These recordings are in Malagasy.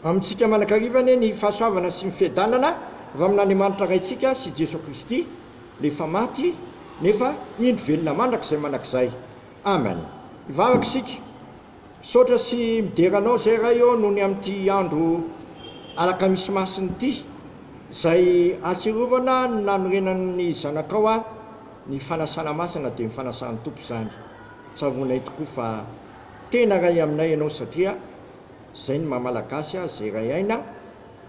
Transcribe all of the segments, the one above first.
Amintsika manakariva anie ny fahasoavana sy ny fiadanana avy amin'Andriamanitra Raintsika sy Jeso Kristy, Ilay efa maty nefa indro velona mandrakizay manakizay. Amen. Hivavaka isika. Misaotra sy midera Anao izay Ray ô nony amin'ity andro alakamisy masina ity, izay ahatsiarovana ny nanorenan'ny Zanakao ahy, ny fanasana masina dia ny fanasan'ny Tompo izany. Tsaroanay tokoa fa. Tena ray aminay ianao satria zay ny maha malagasy azy zay ray aina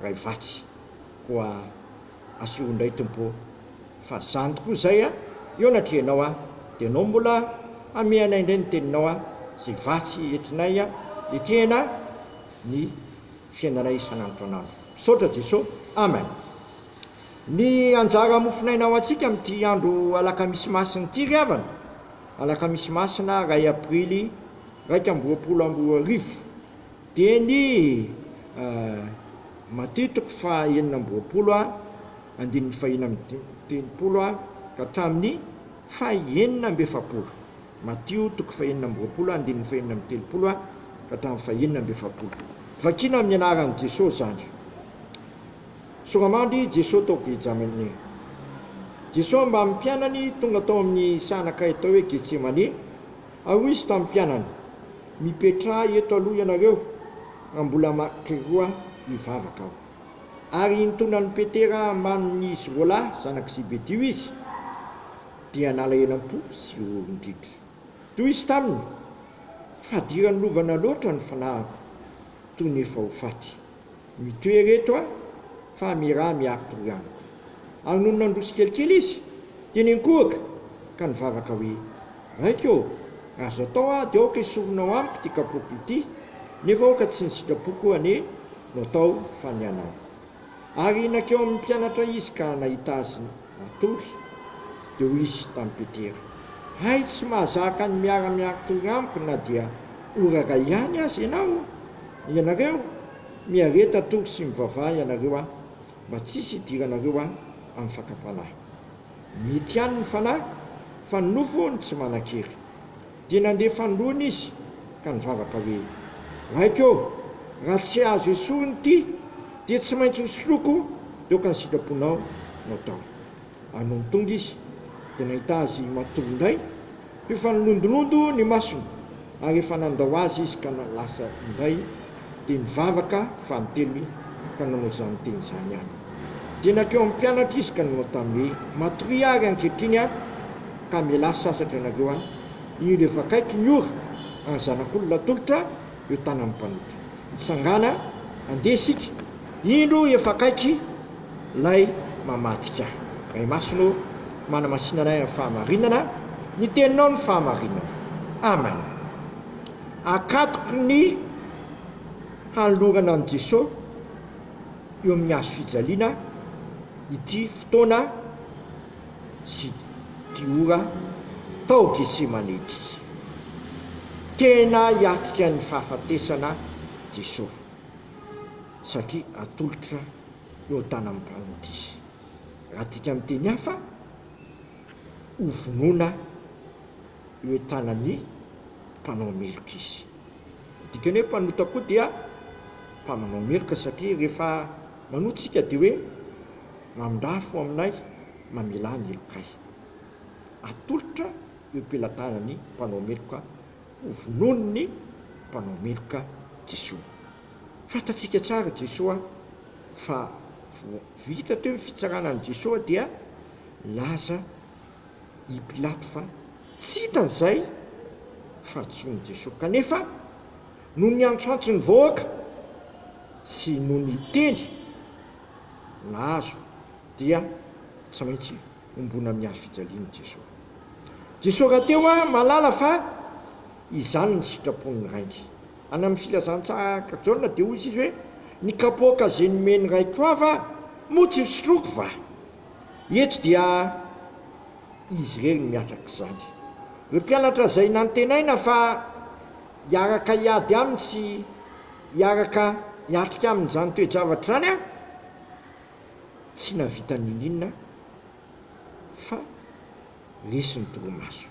ray vatsy koa asio indray tompo ô fa zany tokoa zay a eo natria anao a de anao mbola ame anay indray ny teninao a zay vatsy etinay a etehana ny fiainanay isan'andro an'andro misaotra jeso amen ny anjara mofonaina ho antsika amin'ity andro alakamisy masina ity ry havana. Alakamisy Masina iray Aprily iraika amby roapolo amby roa arivo, teny Maty toko faha enina amby roapolo ha, andininy faha enina amby telopolo ha ka hatramin'ny faha enina amby efapolo, Matio toko faha enina amby roapolo ha, andininy faha enina amby telopolo ha ka hatramin'ny faha enina amby efapolo. Vakina amin'ny anaran'i Jesosy izany. Soramandy Jeso tao Getjamene. Jeso mbamin'ny mpianany tonga tao amin'ny sahanakay atao hoe Getsemane, ary hoy Izy tamin'ny mpianany, Mipetraha eto aloha ianareo raha mbola maky roa hivavaka Aho. Ary intonan'i Petera ambanin'izy roalahy zanak'i Zebedio Izy, dia nalahelo am-po sy roron-dritr. Toy Izy taminy, Fadiran'ny lovana loatra ny fanahiko, toy ny efa ho faty. Mitohy ireto a! fa Mira miaro toroaniko. Ary nony nandroso kelikely izy, dia niankohoka ka nivavaka hoe, Raiko ô! raha azo atao aho dia aoka esorinao amiko ity kapoko ity, nefa aoka tsy ny sitrapoko anie no atao fa ny anao. Ary nankeo amin'ny mpianatra izy ka nahita azy matory. Dia hoy izy tamin'i Petera, Hay tsy mahazaka ny miara-miaro toroaniko na dia ora iray ihany aza ianao? Ianareo miareta atory sy mivavaha ianareo a! Mba tsisy hidiranareo a amin'ny fakam-panahy. Mety ihany ny fanahy fa ny nofo hono tsy manan-kery. Dia nandeha fanoloana izy ka nivavaka hoe, Raiko ô, raha tsy azo esorina ity dia tsy maintsy hosoloiko toaka ny sitraponao no ataoko. Ary nony tonga izy, dia nahita azy matory indray, io fa nilondolondo ny masony, ary efa nandao azy izy ka lasa indray, dia nivavaka fanintelony ka nanao izany teny izany ihany. Dia nankeo amin'ny mpianatra izy ka nanao taminy hoe, Matoria ary ankehitriny aho, ka mialà sasatra ianareo aho, io dia efa akaiky ny ora, ary ny Zanak'olona atolotra eo tanan'ny mpanota. Mitsangàna, handeha isika. Indro efa akaiky lay mamadika. Ray Masina ô, manamasina anay amin'ny fahamarinana, ny teninao no fahamarinana. Amen. Akatoky ny hanolorana an'i Jesosy eo amin'ny hazo fijaliana ity fotoana sy ity ora tao Getsemane ity. Tena hiatrika ny fahafatesana Jesosy. satria atolotra eo an-tanan'ny mpamintisy. Raha adika amin'ny teny hafa, hovonoina eo an-tanan'ny mpanao meloka izy. Ny dikany hoe mpanota koa dia mpamanao meloka satria rehefa manota isika dia hoe mandrafo aminay, mamelà ny helokay. Atolotra eo am-pelatanan'ny mpanao meloka. ho vonoin'ny mpanao meloka Jesoa. Fantatsika tsara Jesoa fa vao vita teo ny fitsarana an'i Jesoa dia nilaza i Pilato fa tsy hitany izay fahadisoan'i Jesoa. Kanefa noho ny antrantry ny vahoaka sy noho ny teny nahazo dia tsy maintsy. ombona amin'ny hazofijalian'i Jeso. Jeso rahateo aho mahalala fa izany ny sitrapon'ny Rainga. Any amin'ny Filazantsara Jaona dia hoy izy hoe, Ny kapoaka izay nomen'ny Raiko aho va moa tsy hosotroiko va? Eto dia Izy irery no miatraka izany. Ireo mpianatra izay nantenaina fa hiaraka hiady Aminy sy hiaraka hiatrika Aminy izany toe-javatra izany, tsy nahavita n'inon'inona fa resy ny torimaso.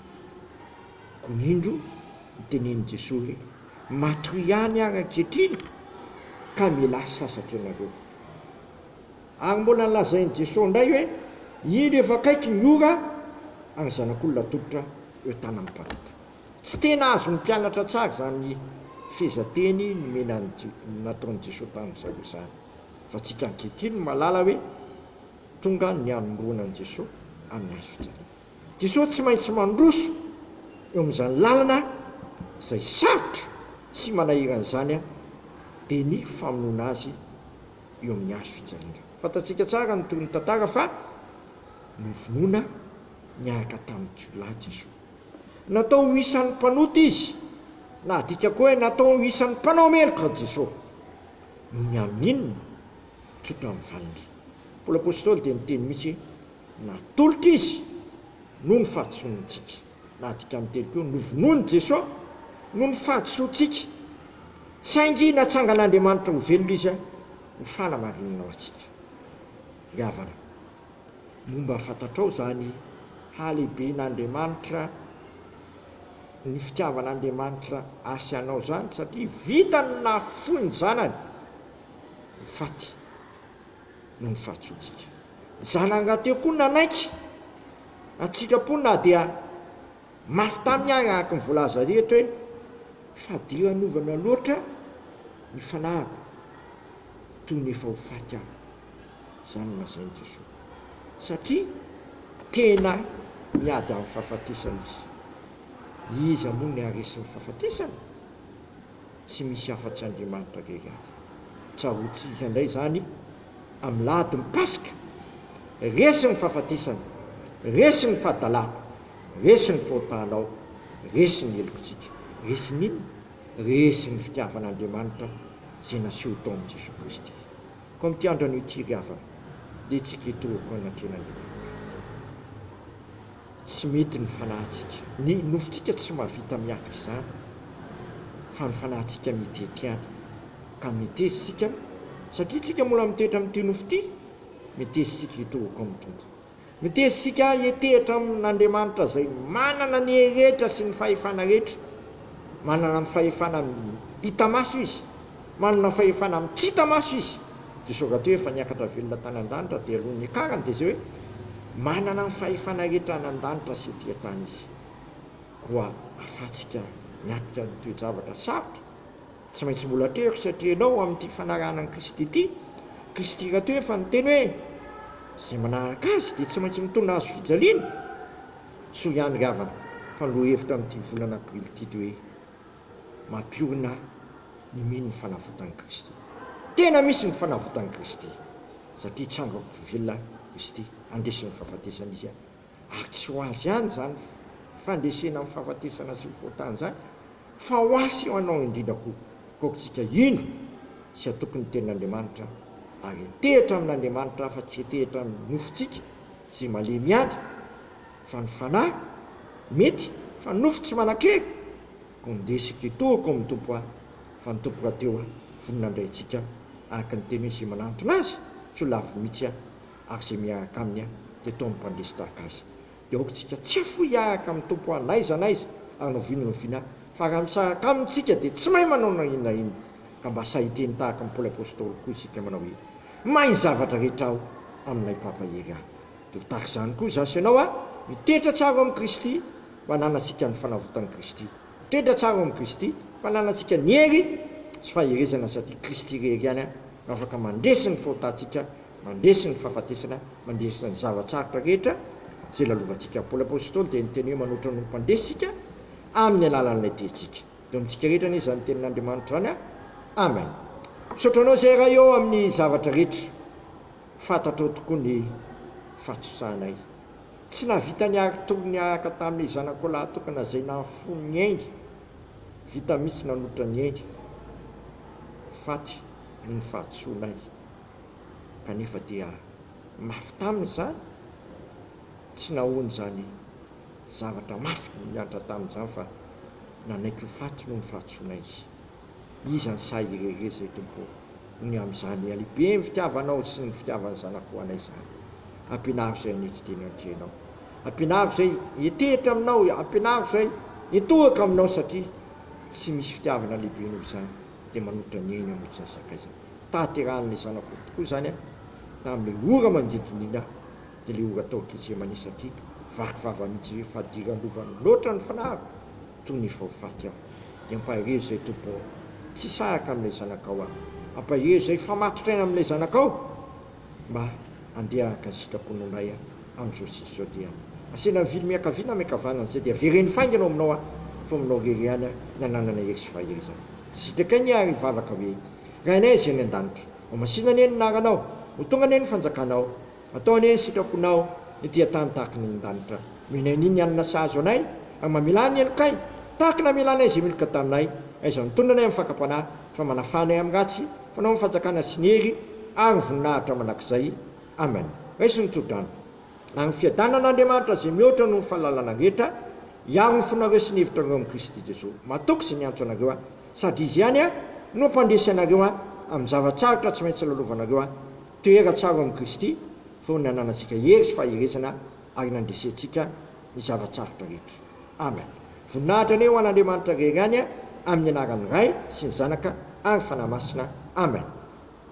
Koa indro nitenenin'i Jesoa hoe, Matoy ihany ary ankehitriny ka mialà sasatra ianareo. Ary mbola nolazain'i Jesoa indray hoe, Indro efa akaiky ny ora ary ny Zanak'olona atolotra eo tanan'ny mpanota. Tsy tena azon'ny mpianatra tsara izany fehezanteny nomena nataon'i Jesoa tamin'i zareo izany. fa tsika ankehitriny no mahalala hoe tonga ny hanomroana an'i Jesoa amin'ny hazo fijaliana. Jesoa tsy maintsy mandroso eo amin'izany lalana izay sarotra sy manahirana izany dia ny famonoana Azy eo amin'ny hazo fijaliana. Fantatsika tsara ny tohin'ny tantara fa novonoina niaraka tamin'ny jiolahy Jesoa. Natao ho isan'ny mpanota Izy, na adika koa hoe natao ho isan'ny mpanao meloka Jesoa. no miaminina, tsotra ny valiny. Paoly Apostoly dia niteny mihitsy hoe, Natolotra izy noho ny fahadisoantsika. Na dikany telo koa, novonoin'i Jesoa noho ny fahadisoantsika, saingy natsangan'Andriamanitra ho velona izy ho fanamarinana ho antsika. Ny havana. Momba fantatrao izany halehiben'Andriamanitra, ny fitiavan'Andriamanitra ahy sy anao izany, satria vitany ny nahafoy ny Zanany ho faty noho ny fahatsoantsika. Ny Zanany rahateo koa nanaiky an-tsitrapo na dia mafy taminy ary araka ny voalaza eto hoe, Fadiranovana loatra ny fanahiko, toy ny efa ho faty aho. Izany no lazain'i Jesoa. Satria tena miady amin'ny fahafatesana izy. Iza moa no haharesy ny fahafatesana? Tsy misy afa-tsy Andriamanitra irery ihany. Tsaroantsika indray izany amin'ny lahadin'ny Paska. Resy ny fahafatesana, resy ny fahadalako, resy ny fahotanao, resy ny helokintsika. Resy ny inona? Resy ny fitiavan'Andriamanitra izay naseho tao amin'i Jesoa Kristy. Koa amin'ity andro anio ity ry havana dia tsy ketrehiko an'Andrianangimanitra. Tsy mety ny fanahintsika. Ny nofontsika tsy mahavita miaky izany fa ny fanahintsika mitety ihany. Ka miteza isika satria tsika mbola mitoetra amin'ity nofo ity, miteza isika ketrehiko amin'ny Tompo. Mitery isika hietehitra amin' Andriamanitra izay manana ny hery rehetra sy ny fahefana rehetra. Manana ny fahefana amin'ny hita maso Izy. Manana fahefana amin'ny tsy hita maso Izy. Jesosy rahateo efa niakatra velona tany an-danitra dia alohan'ny hiakarany dia izay hoe, Manana ny fahefana rehetra any an-danitra sy ety an-tany Izy. Koa ahafahantsika miatrika ny toe-javatra sarotra. Tsy maintsy mbola teo ry satria ianao amin'ity fanarahana an'i Kristy ity. Kristy rahateo efa niteny hoe, Izay manaraka Azy dia tsy maintsy mitondra hazo fijaliana. Soa ihany ry havana fa ny lohahevitra amin'ity volana aprily ity dia hoe, Mampiorina ny mino ny fanavotan'i Kristy. Tena misy ny fanavotan'i Kristy satria hitsangan-ko velona Kristy handresy ny fahafatesana Izy. ary tsy ho azy ihany izany fandresena amin'ny fahafatesana sy ny fahotana izany fa ho ahy sy ho anao indrindra koa, kokotsika hino sy hatoky ny tenin'Andriamanitra ary hetehitra amin'Andriamanitra fa tsy hetehitra amin'ny nofontsika izay malemy ihany fa ny fanahy mety fa nofo tsy manan-kery koa mindesika etoa koa ny Tompo a! fa ny Tompo rahateo a! vonona handray antsika araka ny teniny izay manantona Azy tsy ho lavo mihitsy a! ary izay miahaka aminy aho dia toa ny mpandeha sy tahaka azy. Dia aoka isika tsy hafoy hiahaka amin'ny Tompo aho n'aiza n'aiza ary na oviana na oviana aho, fa raha misaraka Aminy isika dia tsy mahay manao na inona na inona. Ka mba sahy hiteny tahaka ny Paoly Apostoly koa isika manao hoe, Mahay ny zavatra rehetra aho amin'Ilay mpampahery ahy. Dia ho tahaka izany koa izaho sy ianao a! Mitoetra tsara ao amin'i Kristy, mba hananantsika ny fanavotan'i Kristy. Mitoetra tsara ao amin'i Kristy, mba hananantsika ny hery sy faherezana satria Kristy irery ihany no afaka mandresy ny fahotantsika, Mandresy ny fahafatesana Mandresy ny zava-tsarotra rehetra izay lalovantsika Paoly Apostoly dia niteny hoe manoatra ny olom-pandresy isika amin'ny alalan'ilay Tentsika eto amintsika rehetra anie izany Tenin'Andriamanitra izany Amen Misaotra anao izay Ray ô amin'ny zavatra rehetra Fantatrao tokoa ny fahatosahanay Tsy nahavita ny hary tory niaraka tamin'ny zanakao lahy tokana izay nahafoy ny ainy Vita mihitsy nanoatra ny ainy Faty noho ny fahadisoanay kanefa dia mafy taminy izany, tsy nahoany izany zavatra mafy niantra taminy izany fa nanaiky ho faty noho ny fahatsoana izy. Iza ny sahy hirereza i Tompo ho ny amin'izany halehiben'ny fitiavanao sy ny fitiavan'ny Zanako ho anay izany? Ampianaro izay hanetry teny an-dry ianao. Ampianaro izay hiantehitra aminao. Ampianaro izay hitohaka aminao satria tsy misy fitiavana lehibe noho izany. dia manotra ny ainy hanolotra ny sakaizany. Tahaterahan'ilay zanak'omby tokoa izany an, tamin'ilay ora manodidina ny ina, dia ilay ora tao Getsemane satria vaky vava mihitsy izy hoe, Fadira lova loatra ny finahako, toy ny efa ho faty aho. Dia ampaherezo izay Tompo ô, tsy sahaka amin'ilay zanakao aho. Ampaherezo izay fa matotra aina amin'ilay zanakao. mba handeha haka sitrapony ho lay aho amin'izao sy izao dia asena mivily miankavia na miankavanana izay dia vereno faingana ao aminao aho fa aminao irery ihany aho no ananana hery sy faherezana dia sitraky anie ary hivavaka hoe Rainay izay any an-danitra ho masina anie ny anaranao ho tonga anie ny fanjakanao atao anie ny sitraponao ety an-tany tahaka ny any an-danitra nomenay ny ny hanina sahaza anay ary mamela ny helokay tahaka ny hamelanay izay meloka taminay aiza no tondranay amin'ny fakam-panahy fa manafana ahy amin'ny ratsy, fanao ny fanjakana sy ny hery ary voninahitra mandrakizay. Amena. Raiso ny tsodrano. Ary ny fiadanan'Andriamanitra izay mihoatra noho ny fahalalana rehetra, hiaro ny fonareo sy ny hevitrareo amin'i Kristy Jesoa. Mahatoky izay miantso anareo ahy, sady Izy ihany no hampandresy anareo amin'ny zava-tsarotra tsy maintsy lalovanareo. Toera tsara ao amin'i Kristy fony nananantsika hery sy faherezana ary nandresentsika. ny zava-tsarotra rehetra. Amen. Voninahitra anie ho an'Andriamanitra rery any amin'ny anaran'ny Ray sy ny Zanaka ary Fanahy Masina. Amen.